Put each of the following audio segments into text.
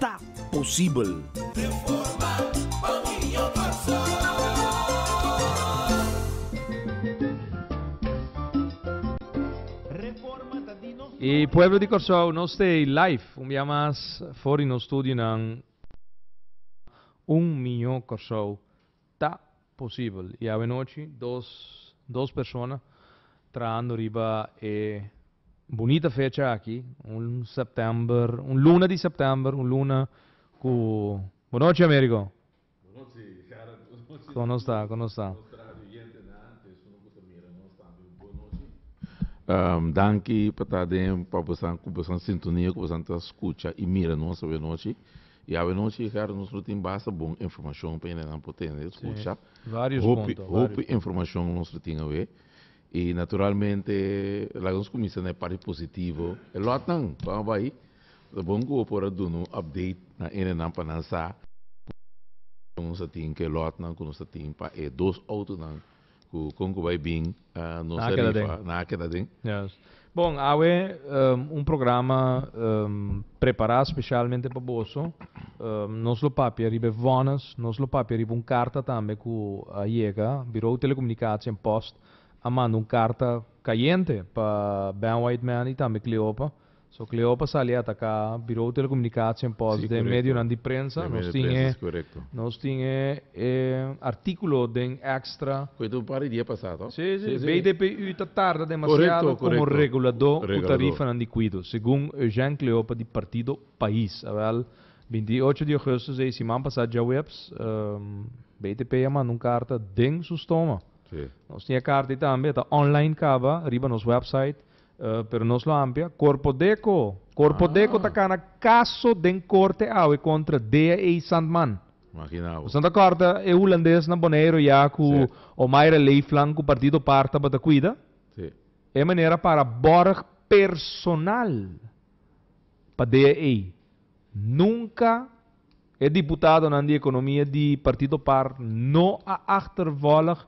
ta posibel. E pueblo di Kòrsou no stay live un bia mas for di nos studionan un mió Kòrsou. Ta posibel i awenochi dos dos persona trahando riba e bunita fecha aki, un september, un luna di september, un luna ku Bonochi Amerigo! Bonochi Gerard, bonochi Como nos ta, como nos ta? nos radio oyentenan, ku esuna ku ta mira nos tambe bonochi. Danki pa ta den pa bosa ku bosa sintonia ku bosa ta skucha i mira nos awenochi. Y awe nos Ricardo nos lo tin basta bon informacion pa hende nan por tende escucha. Hopi hopi informacion nos lo tin awe. Y naturalmente laga nos cuminsa na e parti positivo. E lotnan con a bay ta bon cu bo por a duna un update na hende nan pa nan sa cu nos a tin cu e lotnan cu nos a tin pa e dos autonan Cu con cu bay bin nos a rifa, na keda den. Yes. Bon, awe um, un programa um, prepara specialmente pa boso. Um, nos lo papia riba e vonnes, nos lo papia riba un carta tambe cu a yega. Bureau Telecomunicatie en Post a manda un carta cayente pa Ben Whiteman y tambe Cleopa. So Cleopa sali ataka Birou Telecomunicatie en pos den medionan di prensa. Nos tin e nos tin e e articulo den Extra. Cu e ta un par di dia pasa to? Si si BDPU ta tarda demasiado como regulado cu tarifanan di cuido, segun Eugène Cleopa di Partido Pais. Awel, binti i ocho di augustus ei siman pasa djaweps, BTP a manda un carta den su stoma. Nos tin e carta ei tambe, e ta online caba riba nos website. Pero nos lo hampia. Corpo Deco! Corpo Deco ta cana caso den corte awe contra Dea A. Sandman. Imagina bo. Nos ta corda e Hulandes na Boneiru ya cu Omaira Leeflang cu Partido Par tabata cuida. Si. E manera para borg personal pa Dea A. Nunca. E diputadonan di economia di partido par no a achtervolg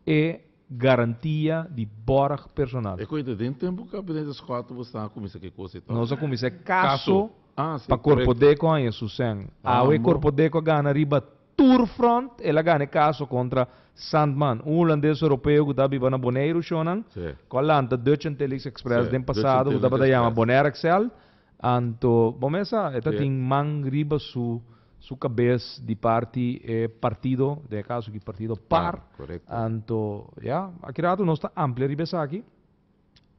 e garantia di borg personal. Ecoe ta den tempo gabinete Scott bo sta a cuminsa ki cosa y todo. Nos a cuminsa e caso pa Corpodeco haña su sen. Awe Corpodeco a gana riba tur front. El a gana e caso contra Sandman, un Hulandes Europeo cu ta biba na Boneiru shonan, cu a lanta Dutch Antilles Express den pasado cu tabata yama Bonaire Excel. Anto bo mesa e ta tin man riba su su cabes di parti e partido, den e caso aki partido par. Anto ya, aki rato nos ta amplia riba esaki.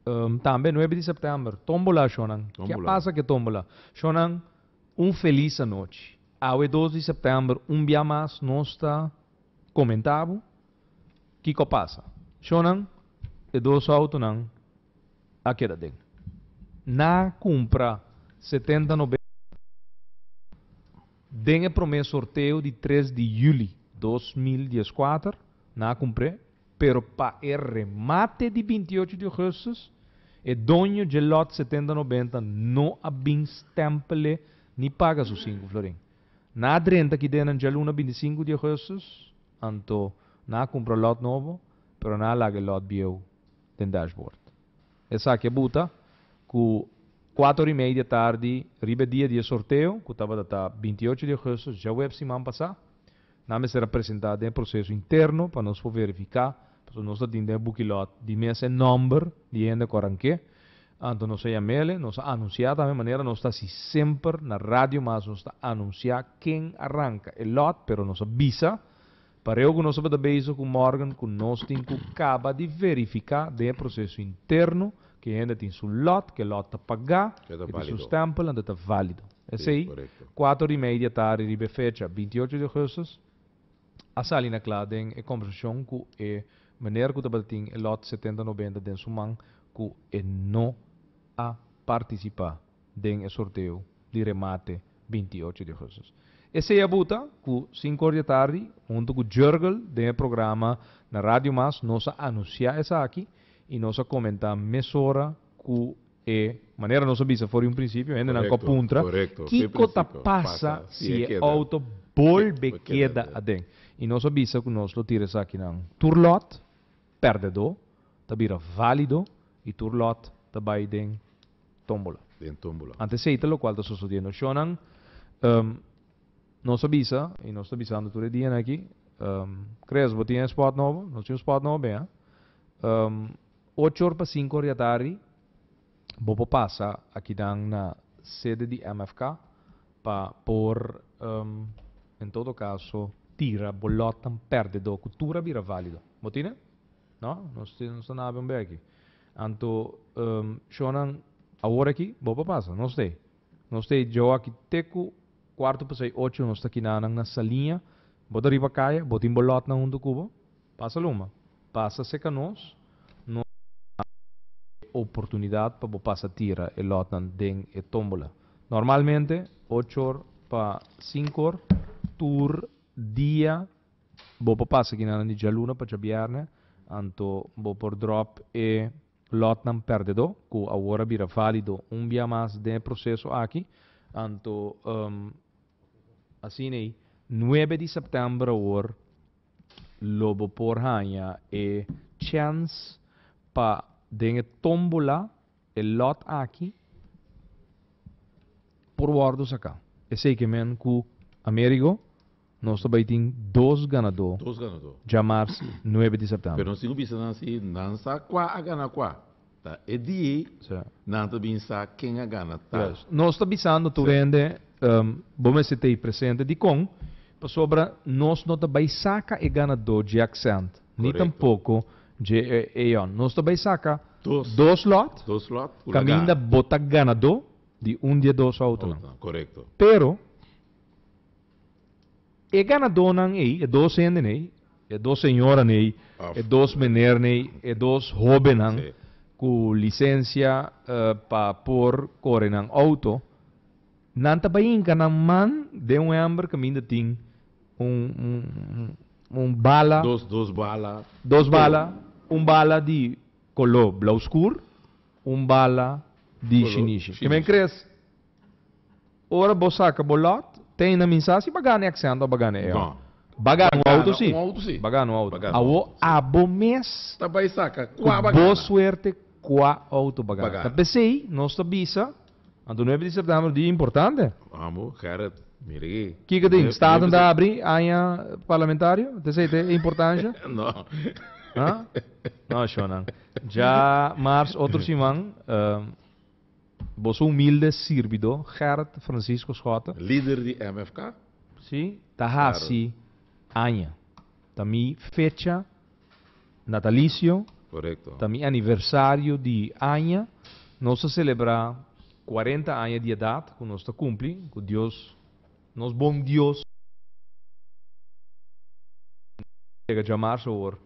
Um, tambe nuebe di september, tombola ashonan. Kia pasa cu e tombola? Shonan, un feliz anochi. Awe dos di september, un bia mas nos ta comenta bo kico a pasa. Shonan, e dos autonan. a keda den na cumpra setenta noventa den e prome sorteo di tres di juli dos mil dies kuater na a cumpr'e pero pa e remate di binti ocho di augustus e doño dje lot setenta noventa no a bin stempel'e ni paga su sinku florin na a drenta ki den nan dje luna binti sinku di augustus anto na a cumpra lot nobo pero na a laga e lot bieu den dashboard. Esaki a buta ku kuater ora i media tardi riba e dia di e sorteo, ku tabata ta binti ocho di ougustus, djaweps siman pasá, nan mester a presentá den e proseso interno pa nos por verifiká, pasobra nos ta tin den e bukilòt di mes e nòmber di e hende ku a rank'é. Anto nos a yam'el'e, nos a anunsiá tambe, manera nos ta hasi semper na radio mas nos ta anunsiá ken a ranka e lòt, pero nos a bisa Pareo ku nos tabata bezig ku Morgan ku nos tin ku kaba di verifiká den e proseso interno ku e hende tin su lòt, ku e lòt ta pagá i tin su stèmpel anto ta válido. P'esei, kuater ora i media di tardi riba e fecha binti ocho di ougustus a sali na kla den e kombersashon ku e meneer ku tabata tin e lòt setenta nobenta den su man ku e no a partisipá. den e sorteo di remate binti ocho di augustus. Esei abu ta ku sinku or di atardi huntu ku Jurgel den e programa na Radio Mas nos a anusiá esaki i nos a komentá mesora ku e manera nos a bisa for di un prinsipio hendenan ku a puntra kiko ta pasa si e outo bolbe keda aden i nos a bisa ku nos lo tira esakinan tur lòt. Perdedó ta bira válido i tur lòt ta bai den tómbola. Den tómbola. Antes esei ta lokual ta sosodiendo shónan. Nos a bisa, i nos ta bisando tur e dianan akí, Chris, bo tin e spòt nobo? Nos tin un spòt nobo bian. Ocho or pa sinku or di atardi Bo por pasa akidan na sede di MFK pa por en todo kaso tira bo lòtnan pèrdedó ku tur a bira válido. Bo tine? No? Nos ta na abi un bèki. Anto shonnan awor aki bo por pasa. Nos t'e. Nos t'e djou aki te ku kuartu pasei ocho nos ta kinanan na Saliña. Bo ta riba kaya, bo tin bo lòtnan huntu ku bo. Pasa luma, pasa seka nos, nos ta duna bo e oportunidad pa bo pasa tira e lotnan den e tombola. Normalmente ocho or pa sinku or tur dia bo por pasa kinanan di djaluna pa djabièrnè, anto bo por drop e lotnan perdedó ku awor a bira válido un bia mas den e proseso aki. Anto, asin'ei nuebe di sèptèmber awor Lo bo por haña e chèns pa den e tómbola e lòt aki por wòrdu saká. Esei ke men ku Amerigo nos ta bai tin dos ganadó dja mars nuebe di sèptèmber. Pero nos tin ku bisa nan si nan sa kua a gana kua. Ta e die nan ta bin sa ken a gana ta. Yes. Nos ta bisando tur hende bo mester ta ei presente. Dikon? Pasobra nos no ta bai saka e ganadó dje accent ni tampoko dje eon. Nos ta bai saka dos lòt kaminda bo ta ganadó di un di e dos outonan. Pero. e ganadónan ei, e dos hendenan ei, e dos señoranan ei, Of, e dos menernan ei, e dos hóbennan Sí. ku lisensia eh, pa por kore nan outo, nan ta bai hinka nan man den un hèmber kaminda tin un, un, un, un bala, Dos, dos bala. dos Kolo. bala, un bala di koló blau skur, un bala di Kolo shinishi. Ke men shinishi. kres? Ora bo saca bo lot, te na minsa si ba gana e accent of ba gana e or. Ba gana un auto si. Ba gana un auto. Awo abo mes cu bo suerte cua auto ba gana. Ta pesey nos ta bisa, anto nuebe di september un dia importante. Amo, Gerrit, mira aki. Kico tin? Staten ta abri aña parlamentario? Te say te e importancia? No. Huh? No, Shonan. Dja mars otro siman. Boso humilde sirbidó Gert Francisco Schotte. Lider di MFK. Sí, ta haci aña. Ta mi fecha natalicio. Corecto. Ta mi aniversario di aña. Nos ta celebra cuarenta aña di edad cu nos ta cumpli. Cu Dios, nos bon Dios, a yega djamars awor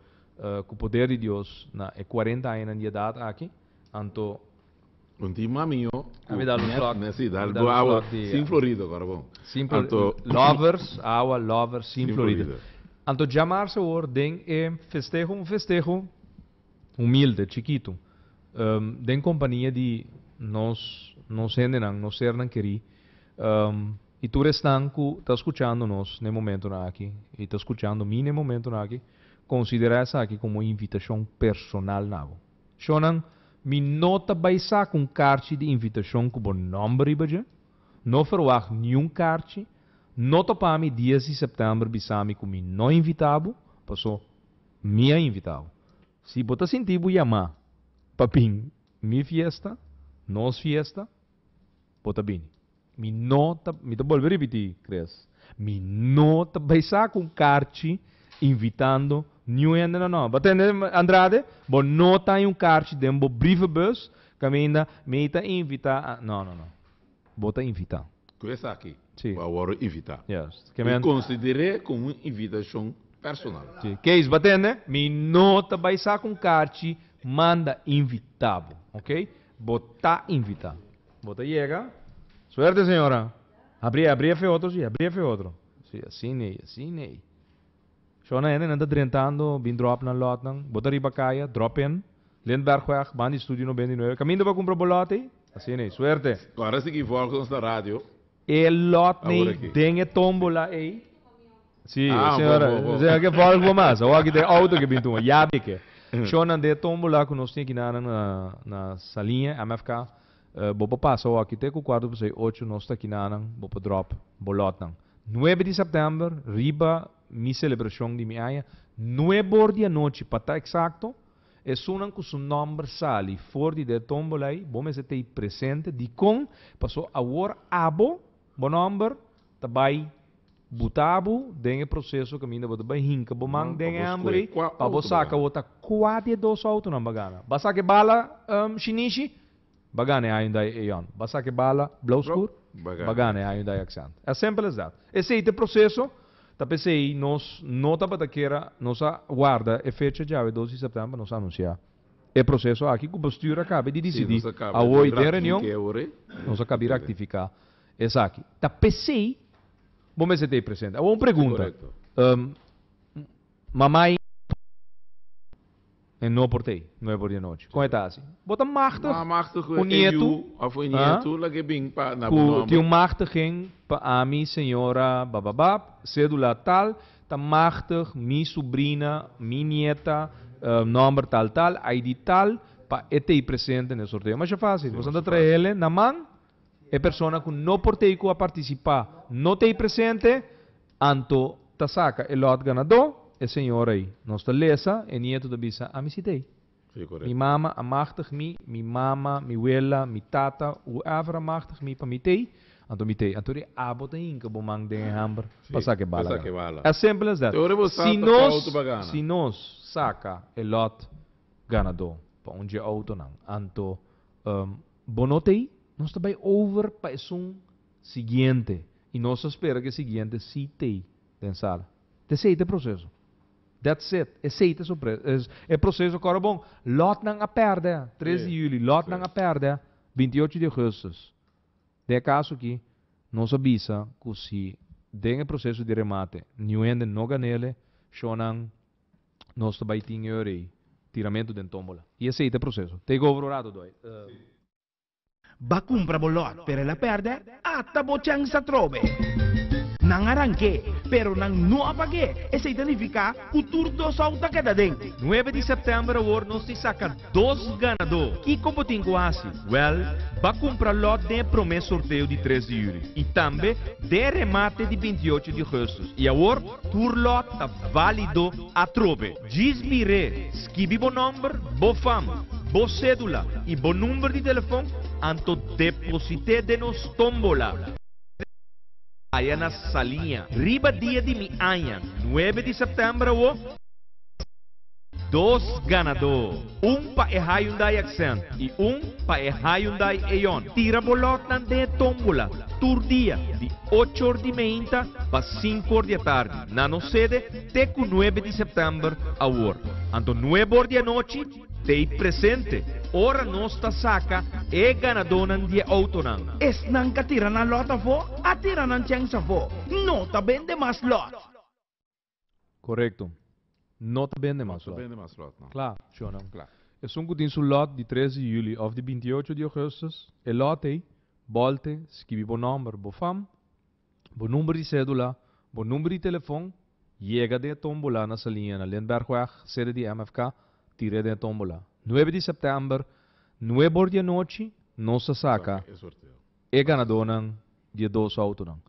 cu poder di Dios na e cuarenta añanan di edad aki. Anto. Un tin mamiño ku nèt si dal bo awa sin florido kòrda bon. Anto. Lovers, awa lovers sin florido. Anto djamarse awor den e festeho, un festeho humilde, chikitu, den kompania di nos nos hendenan, nos sernan kerí i tur esnan ku ta skuchando nos n'e momentunan aki i ta skuchando mi n'e momentunan aki, konsiderá esaki komo invitashon personal na bo. Shonan, mi no ta bai sa ku un karchi di invitashon ku bo nòmber riba dje. No ferwagt niun karchi. No topa mi dies di sèptèmber bisa mi ku mi no invitá bo, paso mi a invitá bo. Si bo ta sinti bo yamá pa bin mi fiesta, nos fiesta, Bo ta bini. Mi no ta, mi ta bolbe ripití, Chris, mi no ta bai sa ku un karchi invitando niun hende na no. Bo a tende, Andrade? Bo no ta haña un karchi den bo brievebus kaminda mi ta invitá a, no, no, no. Bo ta invitá. Ku esaki Sí. bo a wòrdu invitá. Yes. Ke mi a. I konsider'é komo un invitashon personal. Sí. Kees, bo a tende? Mi no ta bai sa ku un karchi manda invitá bo. Oké? Bo ta invita. Bo ta yega. Suerte señora. Abri abri efe otro si abri efe otro. Si asi nei asi nei. Shona hende nan ta drentando bin drop nan lot nan. Bo ta riba kaya drop in Lindbergweg bandi studio no benti nueve kaminda pa cumpra bo lot ei. Asi nei. Suerte. Ora si ki volgens na radio. E lot ni Awor aki. den e tombola ei. Si, Ah, señor. bo, bo, bo. Señor, ke volg bo mas. Awor aki ta e auto ke bin tuma. Yabi ke. Shownan den e tombola ku nos tin aki naran na, na Salinha, MFK. Eh, bo por pasa awor aki te ku kuarto pasá i ocho, nos ta aki naran, bo por drop bo lotnan. Nuebe di sèptèmber, riba mi selebrashon di mi aña, nuebor di anochi pa ta eksakto, Esunnan ku su nòmber sali for di de tómbola ei, bo mester ta i presente. Dikon? Paso awor abo bo nòmber ta bai buta bo den e proseso kaminda bo ta bai hinka bo man den e hèmber ei pa bo saka wota kua di e dos outonan bo a gana. Bo a saka e bala, Shinichi? Ba gana e año dai Eon. Ba saki bala blauw skur. Ba gana e año dai Accent. As simpel as dat. Esey ta e proceso. Ta pesey nos no tabata kera, nos a warda e fecha djawe dos di september pa nos anuncia e proceso aki cu bestuur a cabe di dicidi awoy den reunion. Nos a cabi ractifica esaki. Ta pesey bo mester ta ey presente. Awo un pregunta. Mamai. E no por t'ei, nuevo dianochi. Kon e ta hasi? Bo ta machtig un nietu, ha? Ku tin un machtigen pa ami señora bababab, cedula tal, ta machtig mi subrina, mi nieta, nomber tal tal, ID tal, pa e t'ei presente n'e sorteo. Masha facil. Boso anto trae'le na man. E persona ku no por t'ei ku a participa no t'ei presente. Anto ta saca e lot ganadó? E señora ei. Nos ta lesa, e nieto ta bisa, Ami si t'ei. Sí, corect. Mi mama a machtig mi, mi mama, mi wela, mi tata, whoever a machtig mi pa mi t'ei, anto mi t'ei. Anto rie abo ta hinca bo man den e hamber pa saca e bala gana. As simple as that. Si nos, si nos saca e lot ganadó pa un dje autonan, anto bo no t'ei? Nos ta bay over pa esun. Siguiente, y nos ta spera cu e siguiente si tey den sala. Ta esey ta e proceso. That's it. Esey ta e proceso. Cora bon, lotnan a perde tres di juli, lotnan a perde binti y ocho di augustus. Den e caso aki, nos a bisa cu si den e proceso di remate niuhende no ganele, shonan nos ta bay tin e orey tiramento den tombola. Y esey ta e proceso. Take over ora, Dodoy. Ba cumpra bo lot, pero el a perde, ata bo chens atrobe. Nan a ranke, pero nan no a pag'é, esei ta nifica cu tur dos ou ta keda den. Nuebe di september awor nos tin saca dos ganadó. Kico bo tin cu haci? Wel, ba cumpra lot den e prome sorteo di tres di juli y tambe den e remate di binti ocho di augustus y awor tur lot ta valido atrobe. Djis mir'é, skibi bo nòmber, bo fam, bo sédula i bo number di telefon anto deposit'é den nos tómbola. Haya na Saliña. Riba dia di mi aña, nuebe di sèptèmber awó, mi tin dos ganadó, un pa e Hyundai Accent i un pa e Hyundai Eon. Tira bo lòtnan den e tómbola tur dia di ocho or di meinta pa sinku or di atardi na nos sede. te ku nuebe di sèptèmber awor. Anto nuebe or di anochi te i presente ora nos ta saka e ganadónan di e outonan. Esnan ka tira nan lòt afó, a tira nan chèns afó. No ta bende mas lòt. Korekto. No ta bende mas lòt. Kla, shònan. Esun ku tin su lòt di tres di yuli òf di binti ocho di ogùstus, e lòt ei, bòlte, skibi bo nòmber, bo fam, Bo number di cedula, bo number di telefon, yega den e tombola na Salinha na Lindberghweg, sede di MFK, tire den e tombola. Nuebe di September, nuebe or di anochi, nos ta saca e ganadonan di e dos autonan.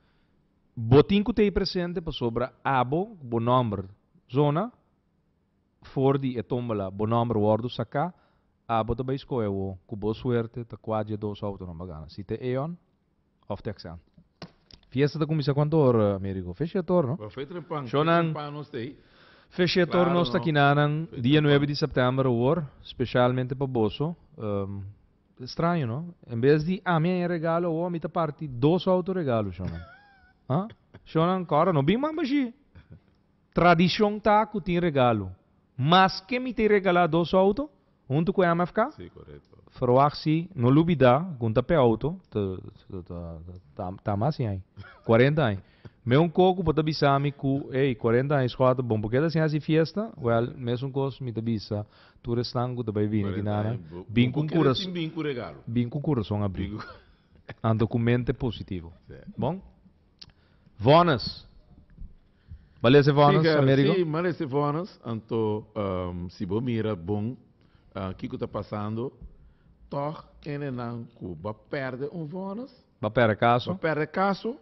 Bo tin cu ta ey presente pasobra abo cu bo nomber zona for di e tombola, bo nomber wordo saca, abo ta bay scohe awo cu bo suerte ta cua di e dos autonan bo a gana. Si ta Eon, Of teksa. Fiesta ta kuminsá kuantu or, Amerigo? Fesh'e ator, no? Shonnan, fesh'e ator nos ta kinanan dia nuebe di sèptèmber awor, speshalmente pa boso. Straño, no? En bes di ami a haña regalo awor, mi ta parti dos autoregalo, shonnan. Ha? Shonnan, kòrda no bin mamba ashí. Tradishon ta ku tin regalo. Maske mi ta e regalá dos auto, Huntu ku MFK, ferwagt si no lubidá ku N ta pega outo, ta mas ñai, kuarenta aña, me un kos ku por ta bisa mi ku, ey, kuarenta aña skor ta bon, purke ta sin hasi fiesta? Wèl, mesun kos mi ta bisa tur esnan ku ta bai bini aki na nan, bin ku un kurason, bin ku un kurason abrí, anto ku mente positivo. Bon? Vonnis. Bo lesa e vonnis, Sí, Amerigo? Gary, sí, m'a lesa e vonnis. Anto, si bo mira bon kiko ta pasando, tòg kenenan ku bo pèrdè un vonnis, Bo pèrdè kaso. bo pèrdè kaso,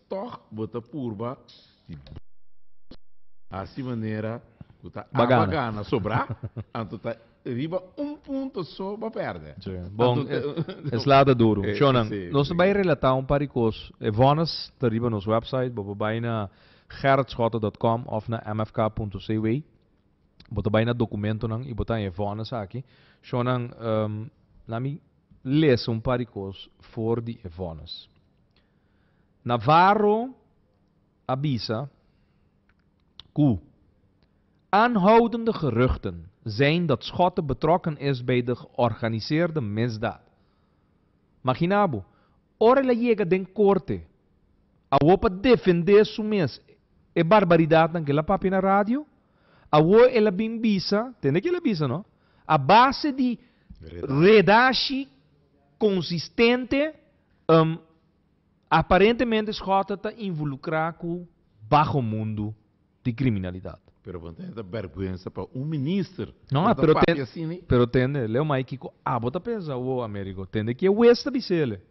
tòg bo ta purba di bo vonnis, hasi manera ku ta Bo aba gana. gana sobrá, anto ta Riba un punto so bo perde. Si. Bon, e sla ta duru. Sho nan. Nos ta bai relata un par di kos. E vonnis ta riba nos website. Bo por bai na gerritschotten dot com of na mfk punto cw. Bo ta bai na documentonan y bo ta e vonnis aki. Sho nan, laat mi lesa un par di kos for di e vonnis. Navarro a bisa. cu aanhoudende geruchten zijn dat Schotten betrokken is bij de georganiseerde misdaad. Magina bo, ora el a yega den corte awor pa defende su mes e barbaridadnan cu el a papia na radio, awor el a bin bisa, tende cu el a bisa no, a base di redashi consistente, um. Aparentemente Schotten ta involucrá cu bajo mundo di criminalidad. Pero bo no tende ta bergwensa pa un minister No, por ta pero papia ten, asina? pero tende, leu mai kico abo ta pensa, wo Amerigo, tende ki e wes ta bisele.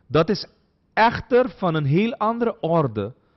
Dat is echter van een heel andere orde.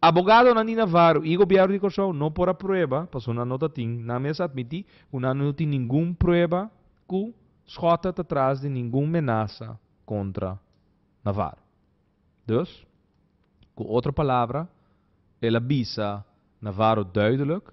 Abogado Nandi Navarro y Gobierno di Corsou no por a prueba paso nan no ta tin, nan mes admiti cu nan no tin ningun prueba cu Schotter ta tras di ningun menasa contra Navarro. Dus, cu otro palabra, el a bisa Navarro duidelijk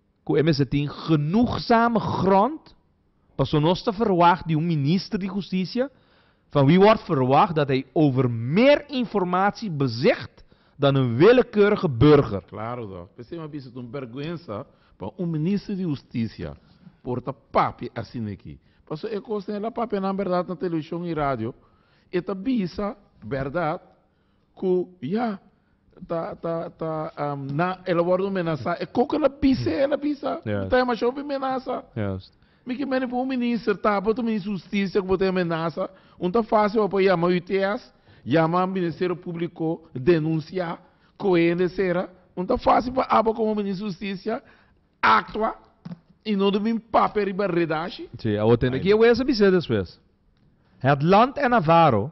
ku e mester tin genoegsame grond paso nos ta ferwagt di un minister di hustisia van wie word ferwagt dat hij over meer informatie bezicht dan een willekeurige burger. Klaro ta, p'e semi a bisa ta un berguensa pa un minister di hustisia por ta papia asin'eki, paso e kos na e la papia nan berdad na televishon i radio, e ta bisa berdad. Ku ya ta ta ta na el a wòrdu menasá e koko el a bisa el a bisa bo ta demashá hopi menasa mi ke mene pa un minister tabata un minister di hustisia ku bo ta menasa un ta fásil bo pa yama UTS yama ministerio públiko denunsiá kohe hende sera un ta fásil pa abo komo minister di hustisia aktua i no dor bin papia riba redashi. Si abo tene ki e wes a bisa despues. Het land en Navarro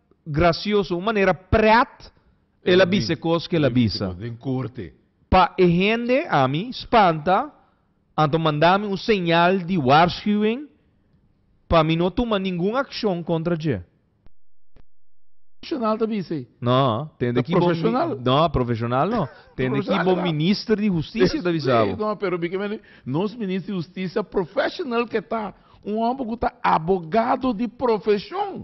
gracioso, un manera pret el a bisa e cos qu'el a bisa. Pa e hende ami spanta anto manda mi un señal di waarschuwing pa mi no tuma ningun accion contra dje. Profesional ta bisa ei? No, tende ki bo mi, no, profesional no, tende ki bo minister di husticia ta bisa bo. No, pero mi ke mende nos minister di husticia profesional ke ta, un homber ku ta abogado di profesion.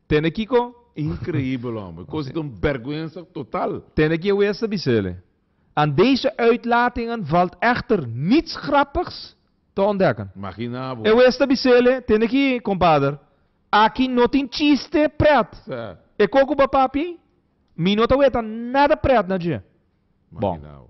Tene kiko? Increibel homber. Cosa ta un berguensa total. Tene ki e wester bisele. Aan deze uitlatingen valt echter niets grappigs te ontdekken. Magina bo. E wester bisele, Tene ki, kompader. Aki no tin chiste pret. Sa. E koko ba papi? Mi no ta weta nada pret na dje. Magina bo.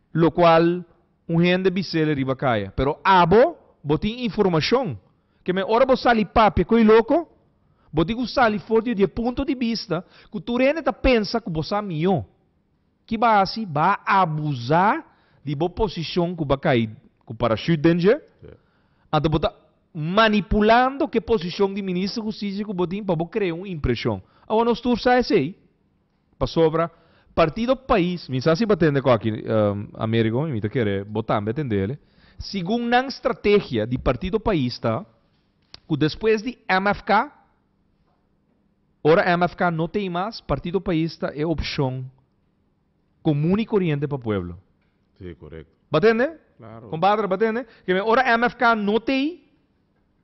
Locual un hende bisele riba caya, pero abo bo tin informacion ke me ora bo sali papia cu e loco, bo tin cu sali for di e punto di bista cu tur hende ta pensa cu bo sa mihó. Ki ba haci? Ba abusa di bo posicion cu ba cay cu parachute den dje, anto bo ta manipulando ke posicion di Minister Justicia cu bo tin pa bo crea un impresion. Awa nos tur sa esey. Pasobra Partido Pais, mi sa si bo a tende cu aki, Amerigo, y mi ta kere bo tambe a tende ele, segun nan strategia di Partido Pais ta cu despues di MFK, ora MFK no ta ey mas, Partido Pais ta e opcion comun y coriente pa pueblo. Si, correcto. Bo a tende? Claro. Compadre, bo a tende? Keme ora MFK no ta ey,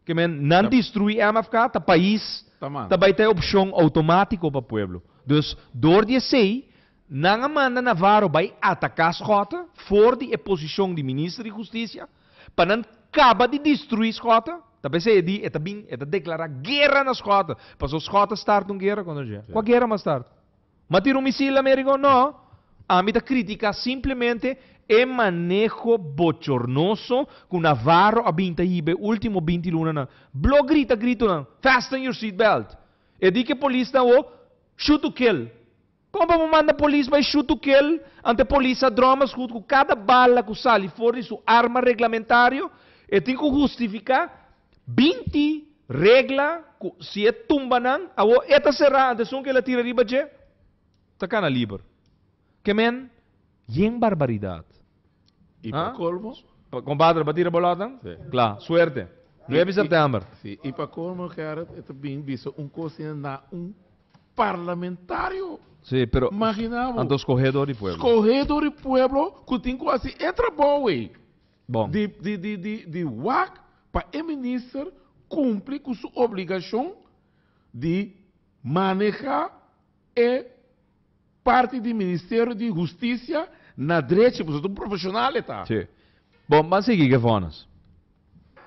Ke men nan destrui MFK ta pais ta bai ta e opshon outomatiko pa pueblo. Dus dor di esei nan a manda Navarro bai ataka Schotten for di e posishon di Minister di Hustisia pa nan kaba di destrui Schotten. Ta pa esei e di e ta bin e ta deklará guera na Schotten. Paso Schotten start un guera kontra dje. Kua guera m'a start? Ma tira un misil Amerigo? No. Ami ta critica simplemente e maneho bochornoso cu Navarro a bin ta hiba e ultimo binti lunanan. Blo grita gritonan, Fasten your seat belt! E di ke polis ta awo, Shoot to kill! Como pa bo manda polis bai shoot to kill ante polis sa dromas goed cu cada bala cu sali for di su arma reglamentario e tin cu justifica Binti regla ku si e tumba nan awo e ta será antes esun ku el a tira riba dje ta kana liber. Ke men yen barbaridat. I pa kolmo. Kompadre pa tira bolòt nan? Si. Kla. Suerte. Nuebe sèptèmber. Si. I pa kolmo Gerrit e ta bini bisa un kos asina na un parlamentario. Si, pero. Magina bo. Anto skohedo di pueblo. Skohedo di pueblo ku tin ku hasi e trabou ei. bon. Di wak pa e minister kumpli ku su obligashon di manehá e parti di Ministerio di Hustisia na drechi, pasobra un profeshonal e ta. Sí. Bon, ban sigui ke vònus.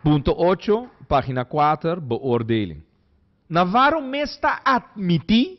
Punto ocho, página kuater, beoordeling. Na waarom mes ta atmití?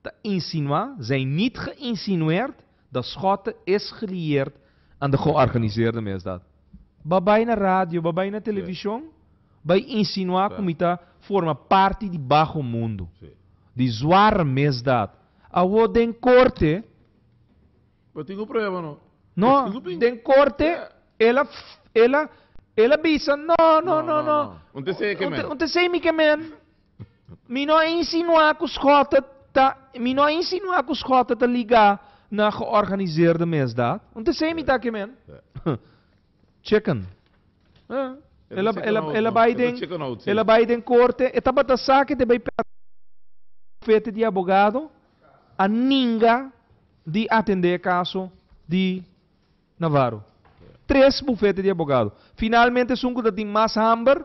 Ta insinuá, zijn niet geïnsinueerd, dat Schotten is gelieerd aan de georganiseerde misdaad. Bo bai na radio, bo bai na television, bai insinuá ku mi ta forma parti di baho mundu, di zwaar misdaad. Awo den korte, Bo tin ku prueba no? No, den korte el a el a el a bisa, no, no, no, no, un te sei mi ke men. Mi no a insinuá ku skòta ta mi no a insinuá ku skòta ta ligá na georganiseerde mesdaad. Un te sei mi ta ke men. Chicken. Huh? El a, el a, el a bai den, el a bai den korte. E tabata sa ke te bai bufete di abogado a ninga di atendé e kaso di Navarro. Tres bufete di abogado. Finalmente esun ku ta tin mas hamber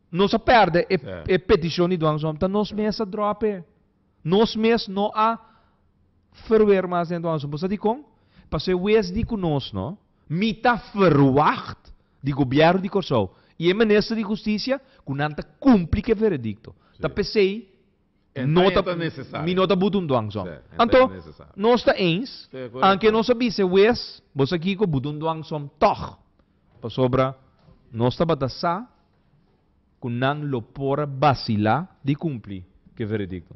Nos a perde e peticion di Duan Zomp ta nos mes a drop e. Nos mes no a ferwer mas den Duan Zomp. Bo sa dicon? Pasobra wes di cu nos no. Mi ta verwacht di Gobierno di Corsou y e Minister di Husticia cu nan ta cumpli cu e veredicto. Ta pesey Mi no ta butun duan zon. Anto, nos ta eens, anke nos a bis'e wes, Bo sa kiko, butun duan zon tòg. Pasobra nos tabata sa ku nan lo por a basilá di kumpli ku e veredikto.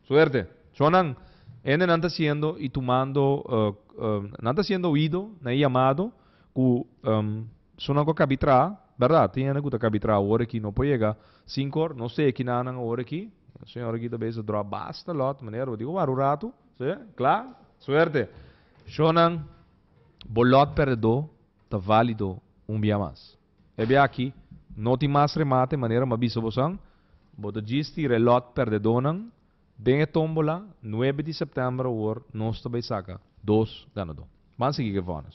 Suerte! Shon nan, hende nan ta siendo i tumando, nan ta siendo oído na e yamado ku. Su nan ku kabí traha, berdad, tin hende ku ta kabí traha awor aki no por yega sinku or, no se kina nan awor aki, e señor aki ta bes ta dròp basta lòt, manera bo di ku wak un ratu, si, kla, suerte. Shownan, bo lòt perdedó ta válido un bia mas. E bia aki no tin mas remate manera m'a bisa bosan, bo ta djistí re lòt perdedónan den e tómbola nuebe di sèptèmber awor nos ta bai saka dos ganadó. Ban sigui ku e vònes.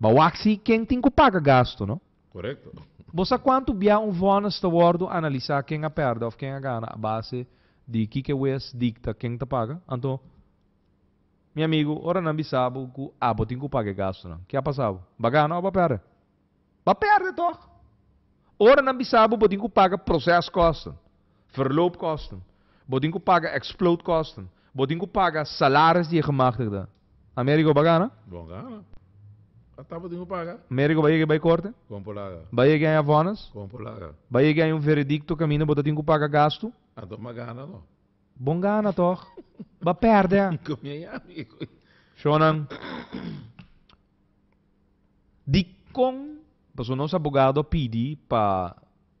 Ba wak si ken tin ku paga gastu, no? Korekto. Bo sa kuantu bia un vònis ta wòrdu analisá ken a pèrdè òf ken a gana a base di kiko wes dikta ken ta paga? Anto, mi amigu, ora nan bisa bo ku abo tin ku paga e gastunan, ke a pasa bo? Ba gana òf ba pèrdè? Ba pèrdè tòg! Ora nan bisa bo bo tin ku paga prosèskòsten, verloopkosten, bo tin ku paga eksplootkòsten, bo tin ku paga salaris di e gemachtigde, Amerigo ba gana. Bon gana. A tabatin cu paga. Amerigo ba yega y bay corte. Con por laga. Ba yega y haya vonnis. Con por laga. Ba yega y haya un veredicto caminda bo ta tin cu paga gasto. Anto m'a gana no. Bon gana toch. Ba perde a. Con mi a yami e coy. Shonan. Dicon. Paso nos abogado a pidi pa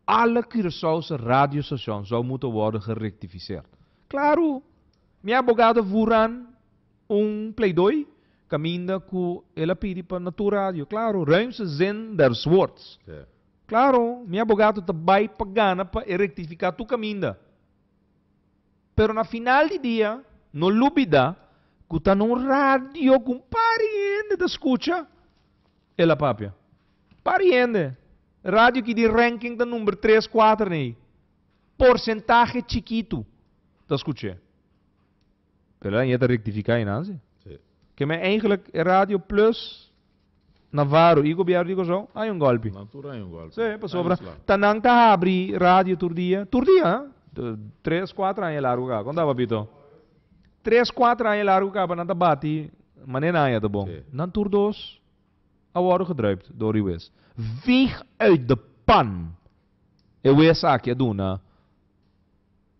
alle Curaçaose radio station zou moeten worden gerectificeerd. Claro. Mi abogado Vuran. Un pleidooi caminda cu el a pidi pa na tur radio, claro, ruimste zin der Swartz. Claro, mi abogado ta bai pa gana pa e rectifica tur caminda. Pero na final di dia, no lubida cu ta na un radio cu un pari hende ta scucha, el a papia. Pari hende. Radio ki di ranking ta number tres, cuater na ei. Porcentahe chikitu ta scuch'e. Pero nan yeta rectifica einan si. Sí. Ke men eigenlijk e radio plus Navarro y gobierno di Kòrsou hay un golpe. Na tur hay un golpe. Sí, pasobra ta nan ta habri radio tur dia, tur dia ha. Tres, cuatro aña largo caba. Con ta papito? Tres, cuatro aña largo caba nan ta bati manera nan yeta bon. Nan tur dos a worde gedruipt door e wes. Veeg uit de pan e wes aki a duna.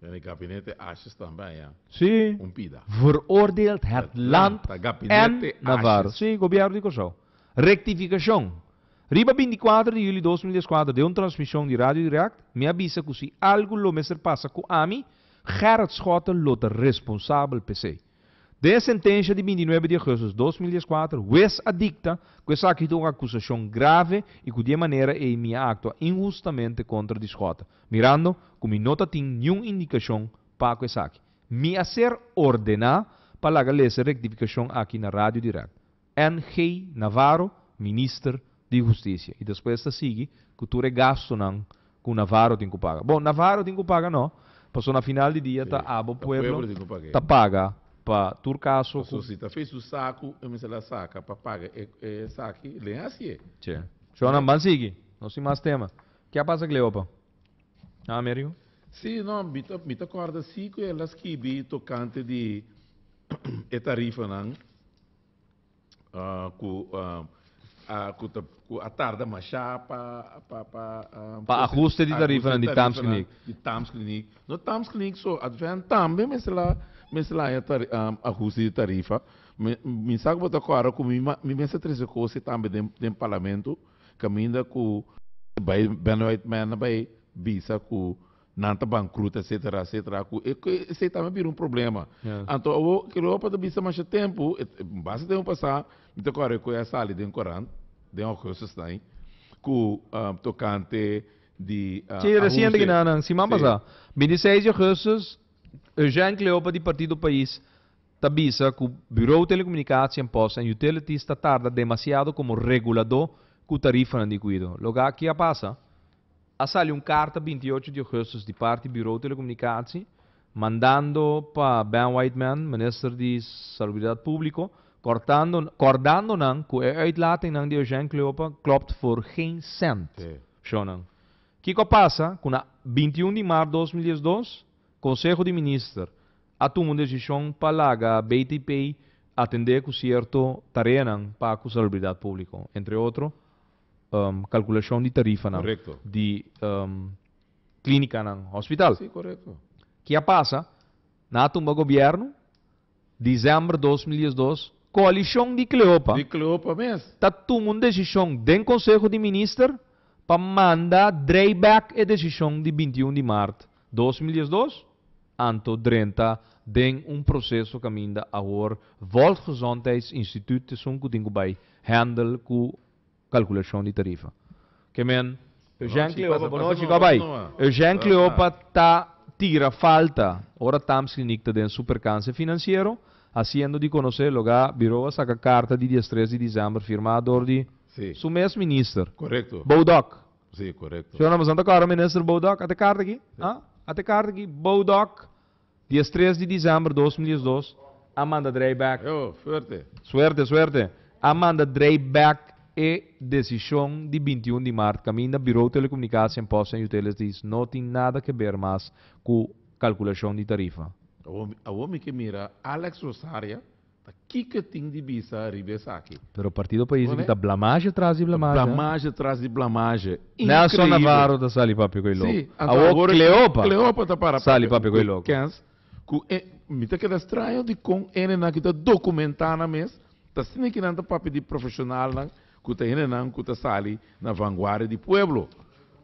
Den e gabinete Ashes tambe aña Sí, un pida. veroordeeld het land Ta en gabinete Navarro. Ashes. Sí, Gobierno di Kòrsou. Rectificacion, Riba binticuater di juli dos mil diescuater den un transmision di Radio Direct mi a bisa cu si algu lo mester pasa cu ami, Gerrit Schotten lo ta responsabel p'esei. Den e sentensha di binti nuebe di Augustus dos mil dies kuater, wes a dikta ku esaki ta un akusashon grave i ku di e manera ei mi a aktua inhustamente kontra di Scott, mirando ku mi no ta tin niun indikashon pa ku esaki. Mi a ser ordená pa laga lesa e rektifikashon aki na radio dirèkt. NG. Navarro, Minister di Husticia. Y despues ta sigui cu tur e gastonan cu Navarro tin cu paga. Bon, Navarro tin cu paga no, pasobra na final di dia ta abo pueblo ta paga pa tur caso cu. Pasobra si ta fesu sacu, e mester la saca pa paga e esaki len hacié. Che. Shornan, ban sigui. Nos tin mas tema. Ke a pasa cu Cleopa? Ha, Amerigo? Sí, no, mi ta mi ta corda sí cu el a skibi tocante di e tarifanan. ah, ku, ah, ah, ku, ta, ku a tarda mashá pa, pa, pa, ah, Pa ajuste di tarifanan di Tams Kliniek. di Tams Kliniek. No Tams Kliniek so, Advent tambe mester la, mester la haña tari, ah, ajuste di tarifa. Mi, mi sa ku bo ta kòrda ku mi, ma, mi mester trese kosnan tambe den, den Parlamento kaminda ku bai Benoit Mena bai bisa ku Nan ta bankruta etcetera etcetera a cu esey tambe a bira un problema. Anto awo ke lo pa ta bisa masha tempo basta tempo pasa mi ta core cu a sali den corant den Augustus nay cu tocante di Si reciente ki nan siman pasa binti seis di Augustus Eugène Cleopa di Partido Pais ta bisa cu Bureau Telecomunicatie Post and Utilities ta tarda demasiado como regulador cu tarifanan di Cuido. Loke aki a pasa A sali un karta binti ocho di ougustus di parti Burou Telekomunikasi mandando pa Ben Whiteman, Minister di Salubridat Publiko, kortando kordando nan ku e uitlatingnan di Eugène Cleopa klopt for geen sent. Shon nan. Kiko a pasa ku na binti un di maart dos mil dies dos Konseho di Minister a tuma un desishon pa laga BTP atendé ku sierto tareanan pa ku Salubridat Publiko, entre otro, kalkulashon di tarifanan di klínikanan hospital. Ke a pasa? Nan a tumba gobièrnu, desèmber dos mil dies dos, koalishon di Kleopa ta tuma un desishon den konseho di minister pa manda drei bèk e desishon di binti un di mart dos mil dies dos, anto drenta den un proseso kaminda awor Volksgezondheidsinstituut esun ku tin ku bai hèndel ku kalkulashon di tarifa. Ke men. Eugène Cleopa, bonochi, kòp bai. Eugène Cleopa ta tira falta ora Tamskliniek ta den su perkanse finansiero, hasiendo di konosé loga Birou a saka karta di diestres di December firmá dor di su mes minister, Boudok. Si, korekto. Shonamazan ta kòrda Minister Boudok, a te karta aki? Ate karta aki? Boudok. Di es tres di disember dos mil diesdos a manda drei bek Suerte! Suerte! a manda drei bek e desishon di binti un di mart kaminda Birou Telekomunikashon en Posten Yutelesdies no tin nada ke ber mas ku kalkulashon di tarifa. Awor mi ke mira Alex Rosaria. Ta kiko tin di bisa riba esaki? Pero partido pais aki ta blamaje tras di blamaje. Ta blamaje tras di blamaje. Increible. Nelson Navarro ta sali papia cu e loco. Si. Anto awor Cleopa. Cleopa ta para papia. Sali papia cu e loco. Kens cu e. Mi ta keda straño dicon ene nan ki ta documenta nan mes ta sintinan ta papia di profesionalnan. Ku ta henenan ku ta sali na vanguardia di pueblo.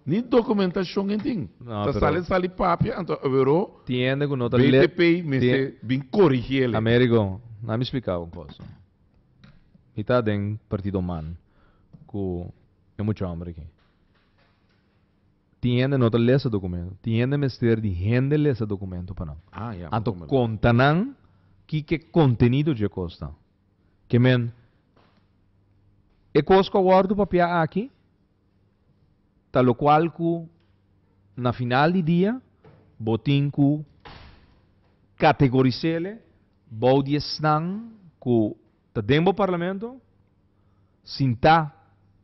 Ni dokumentashon e tin. Ta sali sali papia anto Averó BTP mester bin korigí el e. Américo, na mi splikau un kosa. Mi ta den partido man ku e mucha homber aki. Tin hende no ta lesa dokumento. Tin hende mester di hende lesa dokumento pa nan. Anto konta nan kiko e kontenido dje kos ta. Ke men, e kos ku a wòrdu papia aki ta lokual ku na final di dia bo tin ku kategorisele bou di esnan ku ta den bo parlamento sintá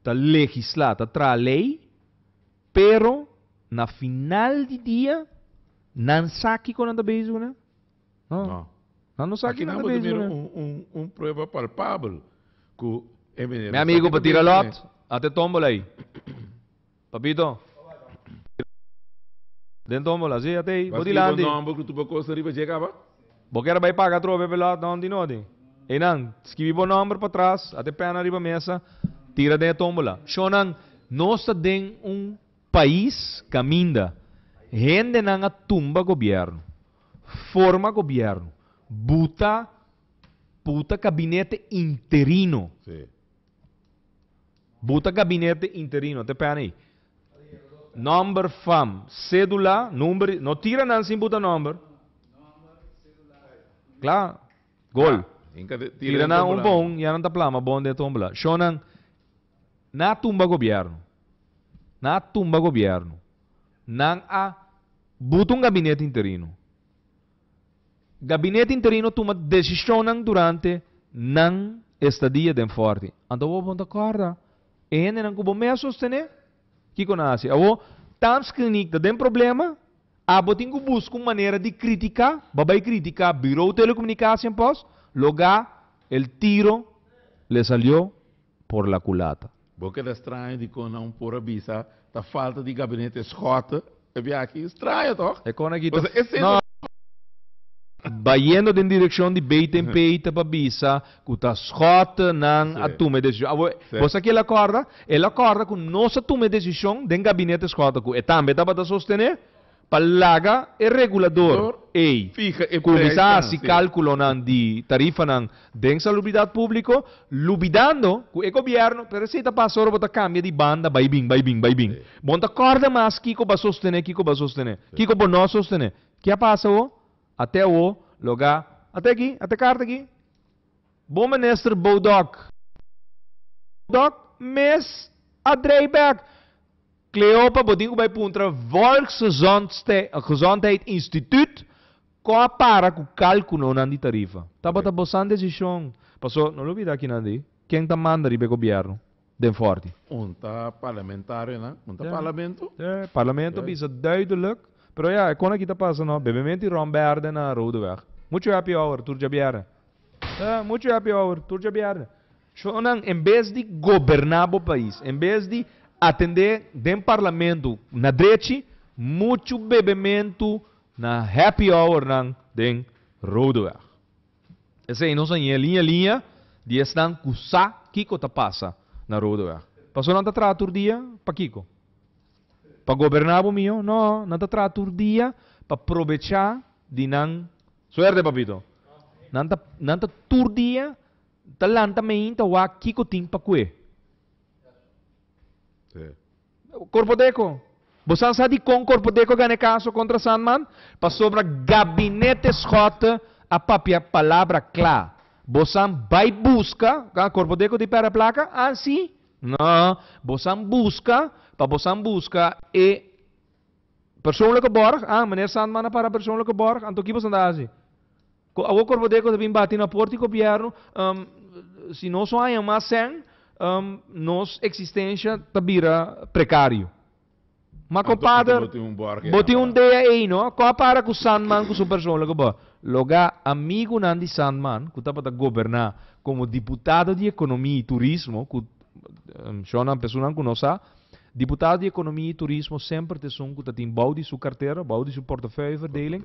ta legislá, ta traha lei, pero na final di dia nan sa kiko nan ta bezi ku nan. No. No. No, no sa kinan ta besi ku nan. Un, un, un prueba palpabel ku e mene. Mi amigu pa tira lòt, at e tòmbola ei. Papito. Tira den tòmbola, si, at ei. Bo dilanti. Bo nòmber ku tur bo kos ta riba djek aba. Bo kier bai paga atrobe p'e lòt? No, di noti. Einan, skibi bo nòmber patras, at e pèna riba mesa, tira den e tòmbola. Shònan, nos ta den un pais kaminda hendenan a tumba gobièrnu. Forma gobierno. Buta buta gabinete interino. Sí. Buta gabinete interino. Te pena ahí. Nomber, fam, cédula, number. No tira nan sin buta nomber. Klaar. Gol. Tira nan un bon, ya nan ta plama bon de tombola. Shonan. Nan a tumba gobierno. Nan a tumba gobierno. Nan a buta un gabinete interino. Gabinete interino tuma decisionnan durante nan estadia den forti. Anto awor bon ta corda e hendenan cu bo mes a sostene? Kico nan a haci? Awor, Tamskilnik ta den problema, abo tin cu busca un manera di critica, bo a bay critica Bureau Telecomunicatie en pos, loga el tiro le salió. por la culata. Bo keda straño dikon nan por a bisa ta falta di gabinete schotten e biachi? Straño toch? E con aki ta No! Bayendo den direccion di Batenpé ta pa bisa cu ta Schotten nan a tuma e decision. Awor, bo sa ki'el a corda? El a corda cu nos a tuma e decision den gabinete Schotten cu e tambe tabata sostene Pa laga e regulador ei cuminsa haci calculonan di tarifanan den Salubridad Publico, lubidando cu e gobierno, pero esey ta pasa ora bo ta cambia di banda bay bin, bay bin, bay bin. Bo n'ta corda mas kico b'a sostene, kico b'a sostene, kico bo no sostene. Ki a pasa awo? Ate awo loga, ate aki, ate carta aki, Bon Minister Bodok, mes a draai back. Cleopa bo tin ku bai puntra Volksgezondheid Instituut kon a para ku kalkulonan di tarifa. Tabata bo san desishon. Paso, no lo bida akinan di ken ta manda riba e gobièrnu den Fòrti. Un ta parlamentarionan, un ta parlamento. Ja, parlamento bisa duideluk. Pero ja, e konaki ta pasa no. Bebemente Ron Berde na Roodeweg. Muchu happy hour tur djabièrnè. Ja, muchu happy hour tur djabièrnè. Chochonan en bes di goberná bo pais, en bes di atendé den parlamento na drechi, muchu bebementu na happy hournan den Rodeweg. Esei nos a ñe liña liña di esnan ku sa kiko ta pasa na Rodeweg. Paso nan ta traha tur dia? Pa kiko? Pa goberná bo mihó? No, nan ta traha tur dia pa probechá di nan. Suerte papito. Nan ta nan ta tur dia Ta lanta meen ta wak kiko tin pa kue. Corpo deco. Bosan sa dicon Corpo deco gane caso contra Sandman? Pasobra Gabinete Schotte a papia palabra cla. Bosan bay busca, ah, Corpo deco di perda placa? Ah, si? No, bosan busca pa bosan busca e persoonlijke borg, ah, Meneer Sandman a para persoonlijke borg, anto ki bosan ta haci? Cu awo corbo deco ta bin bati na porti gobierno, um, si nos no haña mas sen, um, nos existencia ta bira precario. Ma Anto, compadre, anto bo tin un borg bo tin un dea ei, no? Cu a para cu Sandman cu su persoonlijke bo? Loga amigunan di Sandman, cu tabata goberna como diputado di economia y turismo, cu um, shornan persoonnan cu no sa, diputado di economia y turismo semper ta esun cu ta tin bou di su cartera, bou di su portefeuille verdeling,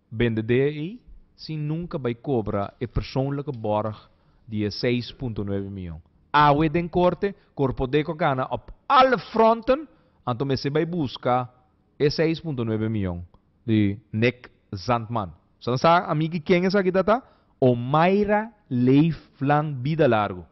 Bendedé ei sin nunka bai kobra e persoonlijke borg di e seis punto nuebe mion. Awe den korte, Corpodeco gana op alle fronten, anto mester bai buska e seis punto nuebe mion di Nick Zandman. Sa nan sa amiki ken esaki ta ta? Omaira Leeflang Bidalargu.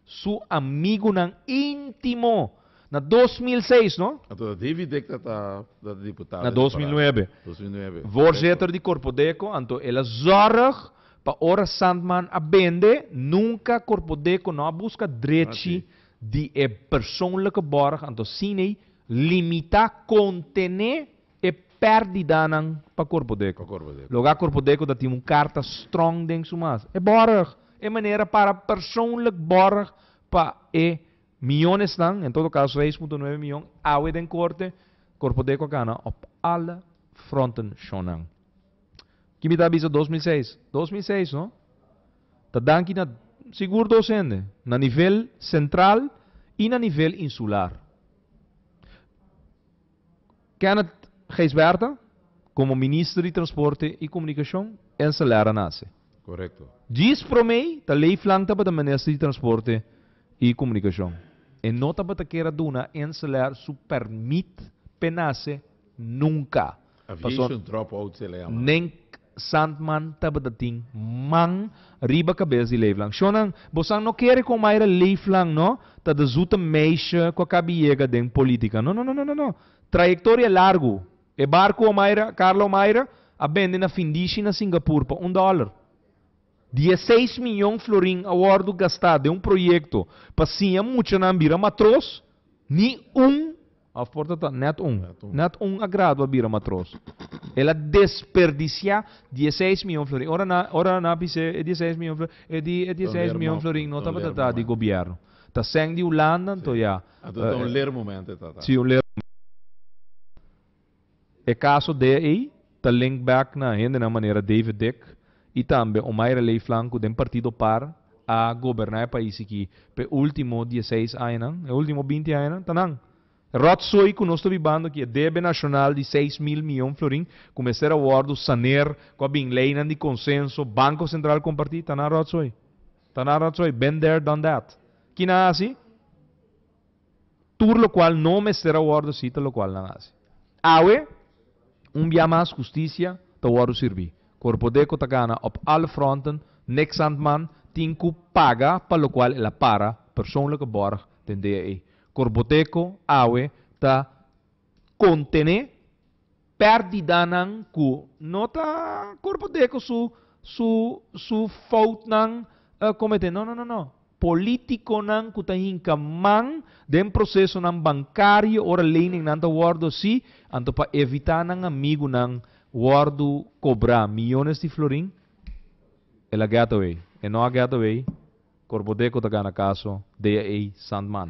Su amigunan intimo. Na dos mil seis, no? Anto dat Davy Dick dat a dat a diputado Na di dos mil Parana. nuebe. Dos mil nuebe, korekto. Voorzitter di Corpodeco, anto el a zòrg pa ora Sandman a bende, nunka Corpodeco no a buska Así. drechi di e persoonlijke bòrg, anto Siney limita, kontené, E perdidanan pa Corpodeco. Lo ga Corpodeco ta tin un carta strong den su mas. E borg e manera para persoonlijk borg pa e mionesnan, en todo caso seis punto nueve mion, awe den corte, Corpodeco a gana op alle fronten shonnan. Ki mi ta bisa dos mil seis? Dos mil seis no? Ta danki na sigur dos hende, na nivel central y na nivel insular. Kenneth Gijsbertha komo Minister di Transporte i Komunikashon en Celera nase. Korekto. Djis promé ta Leif Lang tabata Minister di Transporte i Komunikashon. E no tabata kera duna en Celer su permit p'e nase nunka. Aviation drop-out se le yama. Sandman tabata tin man riba cabes di Leefland. Shonan, bosan no kere con Mayra Leefland no ta de zoete meisje cu a cabi yega den politica. No, no, no, no, no. Trayectoria largu. E barcu Omayra, Carla Omayra, a bende na findishi na Singapur pa un dollar. Dieseis miyon florin a wordo gasta den un proyecto pa siña muchanan bira matros, ni un Of por ta ta net un. Net un a gradua bira matros. El a desperdiciá dieseis mion florin. Ora nan, ora nan a bis'é e dieseis mion florin, e di e dieseis mion florin no tabata ta di gobièrnu. Ta sèn di Hulanda anto ya. Tabata un lermoment e ta ta. Sí, un lermoment. E kaso dea ei ta link back na hendenan manera David Dick i tambe Omaira Leeflang ku den partido par a goberná e pais aki p'e último dieseis añanan. E último binti añanan ta nan. E ròtsoi ku nos ta bibando aki, e debe nashonal di seis mil mion florin ku mester a wòrdu saner, ku a bin leinan di konsenso, Banko Sentral kompartí, ta nan ròtsoi. Ta nan ròtsoi. Been there, done that. Kina hasi? tur lokual no mester a wòrdu si ta lokual nan hasi. Awe, un bia mas hustisia ta wòrdu sirbi. Corpodeco ta gana op alle fronten, Nick Sandman tin cu paga pa lokual el a para persoonlijke borg den DAE. Corpodeco awe ta contene. Pérdidanan ku no ta korbadé ku su su su foutnan kometé. No no no no. Polítikonan ku ta hinka man den prosesonan bankario ora leningnan ta wòrdu hasi anto pa evitá nan amigunan wòrdu kobrá miyones di florin el a gètawei. E no a gètawei, korbadé ku ta gana kaso dea ei sant man.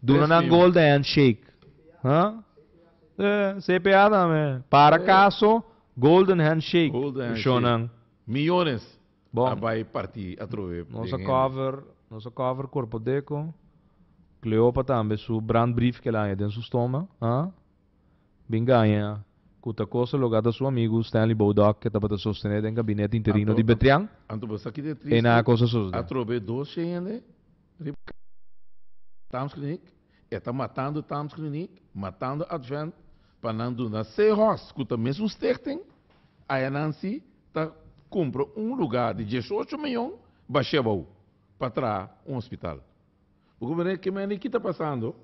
Duna nan golden handshake. Huh? Sí, CPA tambe. Para caso, golden handshake. Golden handshake. Shownan. Millones Bon. a bay parti atrobe Nos den a hende. cover, nos a cover Corpo Deco. Cleopa tambe su brandbrief kel aña den su stoma. Huh? Bin gaña cu ta cosa lo gata su amigu Stanley Bodok ke tabata sostene den gabinet interino di Betrian. Anto bo sa kite triste? Ena cosa sosde. Atrobe dos she hende? Riba kaba di Tamsklinik, e ta matando Tamsklinik, matando Advent pa nan duna se hos ku ta mes un stichting, ayanan si ta kumpra un lugá di dieshocho mion bashebou pa traha un hospital. Bo ku mira ke mende ki ta pasando?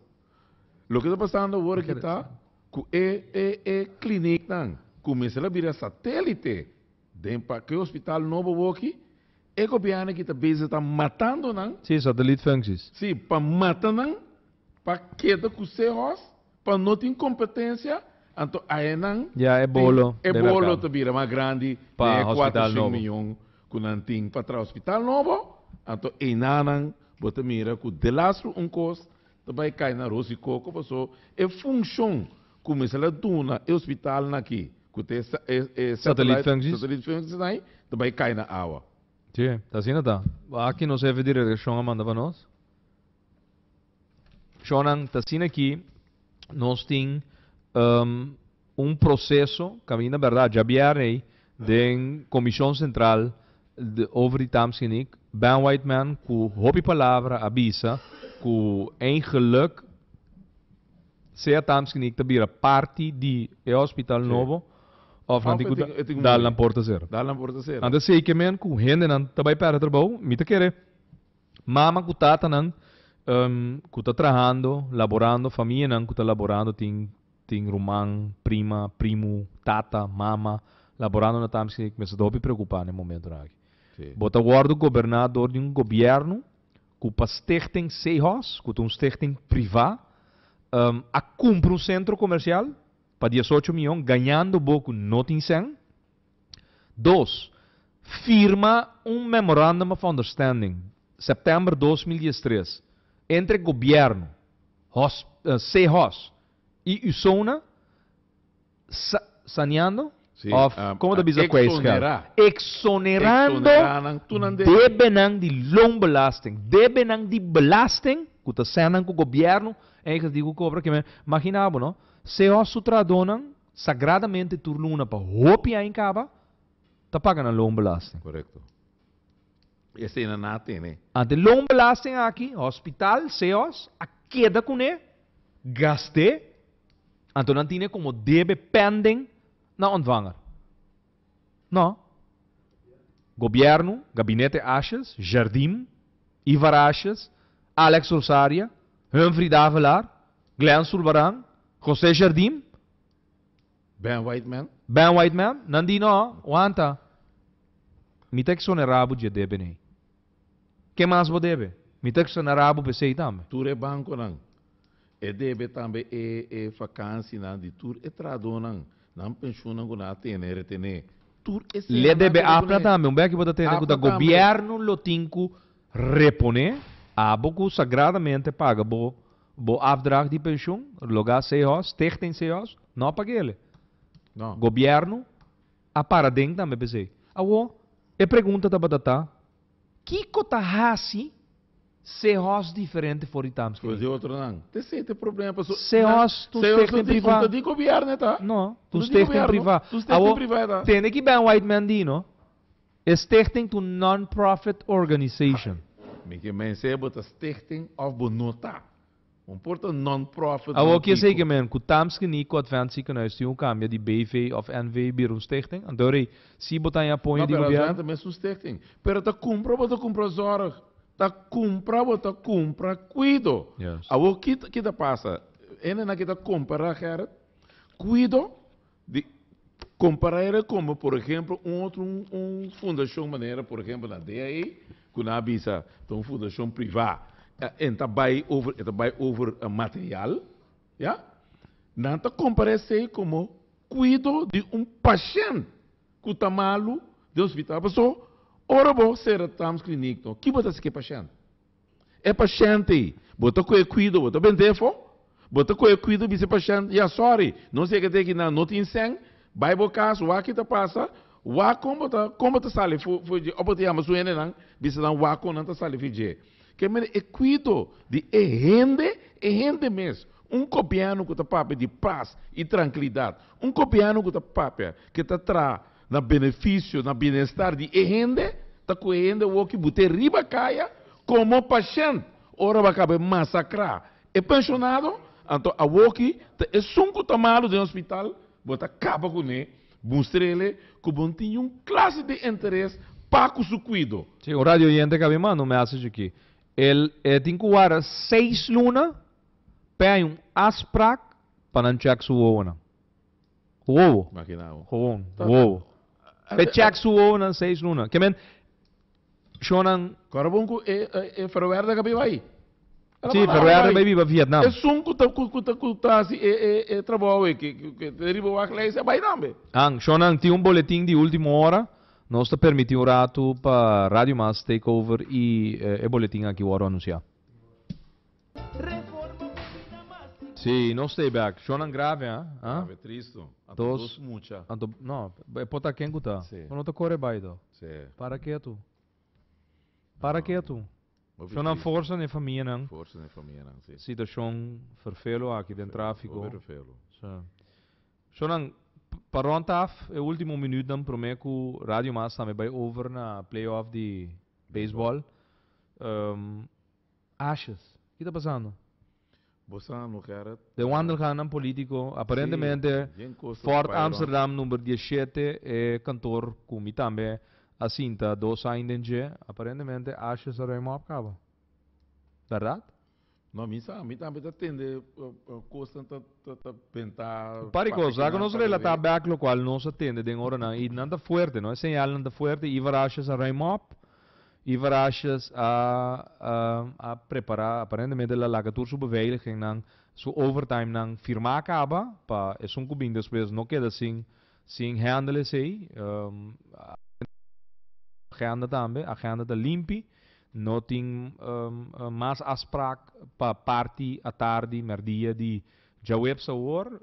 Loke ta pasando awor aki ta ku e e e kliniknan ku mester a bira satélite den pa ke hospital nobo awor aki E gobièrnu ki ta bezig ta matando nan. Sí, satellietfuncties. Sí, pa mata nan, pa keda ku se hòs, pa no tin kompetensia, anto aye nan. Ya e bolo debe merká. E bolo ta bira mas grandi den e kuater shen miyon ku nan tin pa traha hospital nobo, anto einanan bo ta mira ku delastro un kos Ta bai kai na aros i koko paso e funcion cu mester la duna e hospitalnan aki cu ta e satellite functies esai ta bai kai na awa. Si, ta asina ta. Aki nos hefe di redaccion a manda pa nos. Shonan, ta asina aki nos tin. Un proseso caminda berdad dja bier ey den Comision Central de over di Tamsgeniek. Ben Whiteman cu hopi palabra a bisa cu een geluk sea Tamsgeniek ta bira parti di e hospital nobo of nan tin cu dal nan por ta cera. Nan ta sey kemen cu hendenan ta bay perde trabao. Mi ta kere mama cu tatanan cu ta trahando, laborando, famianan cu ta laborando tin. Tin ruman, prima, primu, tata, mama, laborando na tambe skinita ku mester ta hopi preokupá na e momentunan aki. Bo ta wòrdu goberná dor di un gobièrnu ku pa Stichting Zeehos, ku ta un stichting privá, a kumpra un sentro komersial pa diesocho miyon, gañando bo ku no tin sèn. Dos, firma un Memorandum of Understanding, September dos mil diestres, entre Gobièrnu, hos, CHOS, i Usona, sa, saneando? Sí, Òf a, komo ta a bisa ku a e skèl? exonerá. Eksonerando Exonerá nan, tur nan debe. debenan di loonbelasting, debenan di belasting ku ta sèn nan ku gobièrnu en ekrativo kobra. Ke men, maginabo no, CHOS su trahadónan. Sagradamente tur luna pa hopi aña kaba ta paga nan loonbelasting. Korekto. Esena nan a tene. Ante loonbelasting aki hospital, seos, a keda kuné gast'é anto nan tine komo debe pending na ontvanger. No. Gobiernu, Gabinete Ashes, Jardim, Ivar Ashes, Alex Rosaria, Humphrey Davelaar, Glen Zulbarán, José Jardim, Ben Whiteman. Ben Whiteman, nan di no, wanta, mi ta exonerá bo dje debe n'ey. Ke mas bo debe? Mi ta extraña rabo p'esei tambe. Tur e bankonan. E debe tambe e e fakansinan di tur e trahadónan, nan penshunnan ku nan a tene retené. Tur e seña nan debe poné. Le debe apna tambe un bèk ku bo ta tene ku ta gobièrnu lo tin ku reponé. Abo ku sagradamente paga bo bo afdrag di penshun, loga Seehos, Stichting Seehos, no a pag'ele. Gobièrnu. A para den tambe p'esei. Awo, e pregunta tabata ta, Kiko ta hasi Seehorst diferente for di Tamski Voor di otro nan. Te esei ta e problema paso nan, Seehorst ta un Seehorst stichting ta di, un privá. ta di gobièrnu e ta. No, ta Un un ta di stichting gobièrnu, privá. ta un stichting Awo, privá e ta. tende ki Ben Whiteman di no, e stichting ta un non-profit organization. Mi ke mens'e bo ta stichting òf bo no ta. Un por ta non-profit Awor nan kies kico? egemen cu ta msken ni cu Advent Ziekenhuis tin un cambia di BV of NV bira un stichting? Anto rei, si bo ta aña poña No, di pero Advent gobierno? ta mes un stichting. Pero ta cumpra bo ta cumpra zorg. Ta cumpra bo ta cumpra cuido. Yes. Awor ki ta ki ta pasa? Hendenan ki ta compara, Gerrit, cuido Di comparera como por ehemplo un otro un fundacion manera por ehemplo na DAE cu nan a bisa ta un fundacion priva e ta bay over e ta bay over material ya nan ta compara esey como cuido di un pashent cu ta malo den hospital pasobra ora bo cera Tams clinic kibo ta haci cu e pashent. E pashènt ei, bo ta ko'e kuido, bo ta bent'é afó? Bo ta ko'e kuido bisa e pashènt, Ya, sòri, nos yega te aki, nan no tin sèn, bai bo kas, wak i ta pasa, wak kon bo ta kon bo ta sali fu fu dje? Òf bo ta yama su hendenan, bisa nan wak kon nan ta sali fu dje? Ke manera e kuido di e hende, e hende mes, un gobièrnu ku ta papia di pas i trankilidat, un gobièrnu ku ta papia, ke ta traha Na benefisio, na bienestar di e hende ta ku e hende woki bute riba kaya komo pashènt ora bo a kaba e masakrá e penshonado, anto awoki ta esun ku ta malu den hospital bo ta kaba kuné mustrele ku bon tin yun klase di interes pa ku su kuido. Sí, un radio oyente kaba e manda un mèseshe aki. El e tin ku warda seis luna p'e hay un asprak pa nan chèk su wowonan. Wowo. Gewoon. Wowo. Pe check su wowonan seis luna. Ke men shonnan. Kora bon ku e e Verwerda ka bai bai. Si, Verwerda bai biba Vietnam. Esun ku ta ku ta ku ta hasi e e e trabou e ke ke ta riba wak leis a bai tambe. Ang, shonnan tin un boletin di ultimo ora. Nos ta permiti un ratu pa Radio Mas take over i e boletin aki wòrdu anunsiá. Sí, no stay back. Shownan grave, ha? Grave, tristo. Anto Dos. dos mucha. Anto, no, e por ta ken ku ta. Sí. Pero no ta kore bai do. Sí. Para ketu. Para No. ketu. Hopi Shownan tristi. forsa n'e famianan. Forsa n'e famianan, sí. Situashon ferfelu aki den trafiko. Hopi ferfelu. Sí. Shownan, p- pa rond af e ultimo minutnan promé ku Radio Mas tambe bai over na playoff di baseball. Ehm, Ashes. Ki ta pasando? Bo sa no Gerrit. Den wandelgannan político, aparentemente Fort Amsterdam number diecisiete e kantoor ku mi tambe a sinta dos aña den dje, aparentemente Ashes a rui mop kaba. Berdad? No, mi sa, mi tambe ta tende kosnan ta ta bentá. Un par di kos a ku nos relatá bèk lokual nos a tende den oranan i nan ta fuerte, no? E señalnan ta fuerte, Ivar Ashes a rui mop Iwaraschus a a prepará aparentemente la laga tur su beveiligingnan, su overtimenan firmá kaba pa esun ku bin despues no keda sin sin hendel esei. Agenda tambe, agenda ta limpi, no tin mas afsprak pa parti atardi, mèrdia di djaweps awor.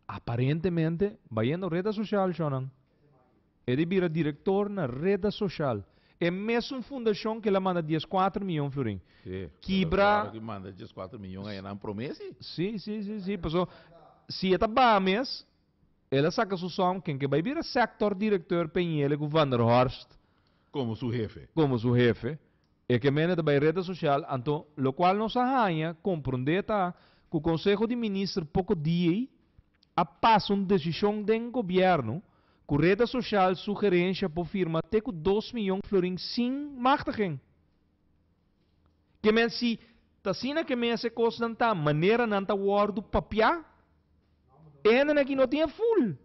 Aparentemente bayendo reta sosial, shònan. E di bira direktor na reda soshal, e mesun fundashon ke la manda dies kuater miyon florin. Sí, kibra. Pero ora ki manda dies kuater miyon aya nan promesi. Sí, sí, sí, sí, paso si e ta baha mes, el a saka su som, ken ke bai bira sektor direktor Peñele ku Vanderhorst. Komo su hefe. Komo su hefe. E ke mende ta bai reda soshal, anto lokual nos a haña komprondé ta ku konseho di minister poko di ei A pas un desishon den gobièrnu ku Reta Soshal sugerensha por firma te ku dos miyon florin sin machtigen. Ke men si ta asina ke mes e kosnan ta manera nan ta wòrdu papiá? E hendenan aki no tin e ful.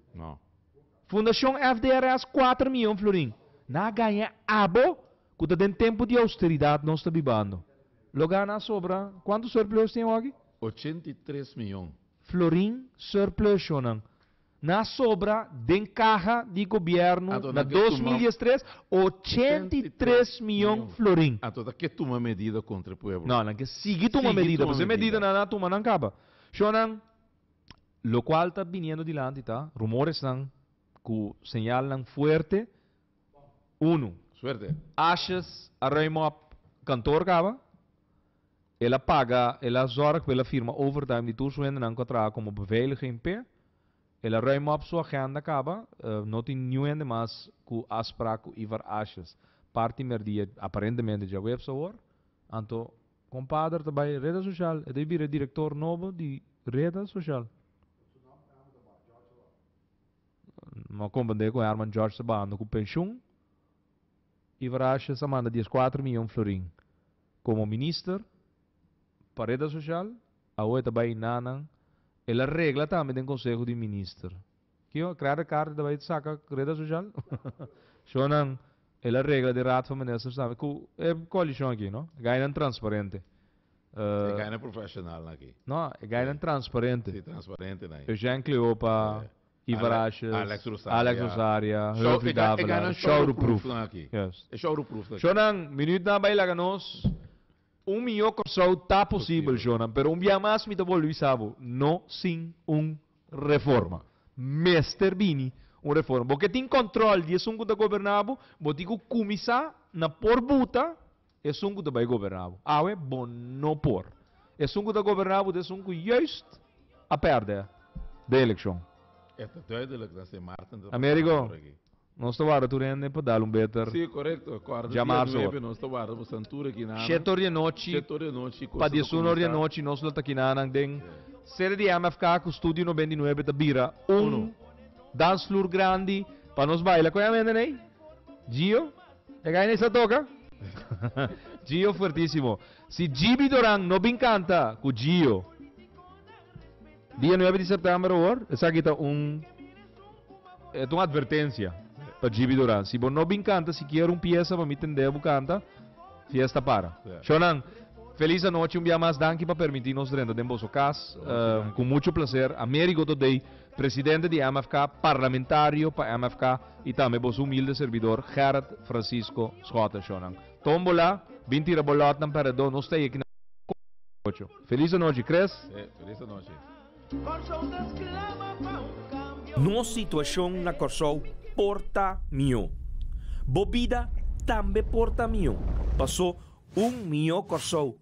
Fundashon FDRS kuater miyon florin. Nan a gaña abo ku ta den tempu di austeridat nos ta bibando. Lo gana a sobra. Kuantu surplus tin awor aki? Ochenta i tres miyon. Florin surplushonan na sobra den kaha di gobièrnu na dos mil diestres ochenta i tres mion florin. Anto nan ke tuma medida kontra e pueblo? No, nan ke sigui tuma medida, pasobra e medida nan a tuma nan kaba. Shonan, lokual ta biniendo dilanti ta rumoresnan ku señalnan fuerte, unu, Suerte! Ashes a ruim op, kantoor kaba, El a paga, el a zorg pa el a firma overtime di tur su hendenan ku a traha komo beveiliging p'e. El a ruim op su agenda kaba. No tin niun hende mas ku afsprak ku Ivar Asjes parti merdia, aparentemente djaweps awor. Anto kompader ta bai reda sosial, e ta bai bira e direktor nobo di reda sosial. Su nom ta bajando ku Jorge Sabah. No a komprende ku herman Jorge Sabah anda ku penshun. Iwaraschus a manda dies kuater miyon florin komo minister pa reta sosial, awo e ta bai na nan, el a regla tambe den konseho di minister. Kico a krea Recardo e ta bai saka reta sosial? Eshonan el a regla den raad van ministers tambe ku e koalishon aki, no? E gainan transparente. E gainan profesional aki. No, e gainan transparente. Si, transparente na. Eugène Cleopa. Ivarashes, Alex Rosaria, Humphrey Davelaar, Showroeproef. Shownan, minuut nan a bai laga nos, un miyo Kòrsou ta posibel shownan, pero un biaha mas mi ta bolbe bisa bo, no sin un reforma. Mester bini un reforma. Bo ke tin kòntròl di esun ku ta goberná bo, bo tin ku kuminsá na por buta Esun ku ta bai goberná bo. Awe bo no por. Esun ku ta goberná bo ta esun ku juist a pèrdè den elekshon. E ta duidelijk dat se Maarten ta pasa Amerigo, por aki. nos ta warda tur hende pa dal un beter Sí, korekto. Kòrda dia djamar su nuebe, ora. nos ta warda bo san tur aki nanan. Shet ori anochi Shet ori anochi, pa kosnan ta diesun ori kuminsá. anochi nos lo ta aki nanan den Ya. sede di MFK ku Studio Noventa i Nuebe ta bira un Uno. dansfloer grandi pa nos baila. Kon a mende n'ei, Gio? E gaina esta toca? Gio fuertisimo. Si Jibi Doran no bin canta cu Gio dia nuebe di september awor, esaki ta un e ta un advertencia pa Jibi Doran. Si bo no bin canta sikier un pieza pa mi tende bo canta, fiesta para. Yeah. Shonan, feliz anochi un bia mas. Danki pa permiti nos drenta den boso cas. Uh, cu mucho placer. Amerigo today. Presidente di MFK, Parlamentario pa MFK y tambe bo su humilde servidor Gerrit Francisco Schotten Schonan. Tombola, bin tira bo lotnan per redo nos stay aki na Cor Show den ocho. Feliz anochi Chris! He, feliz anochi. Nos situacion na Corsou por ta mihó. Bo bida tambe por ta mihó. Paso un mihó Corsou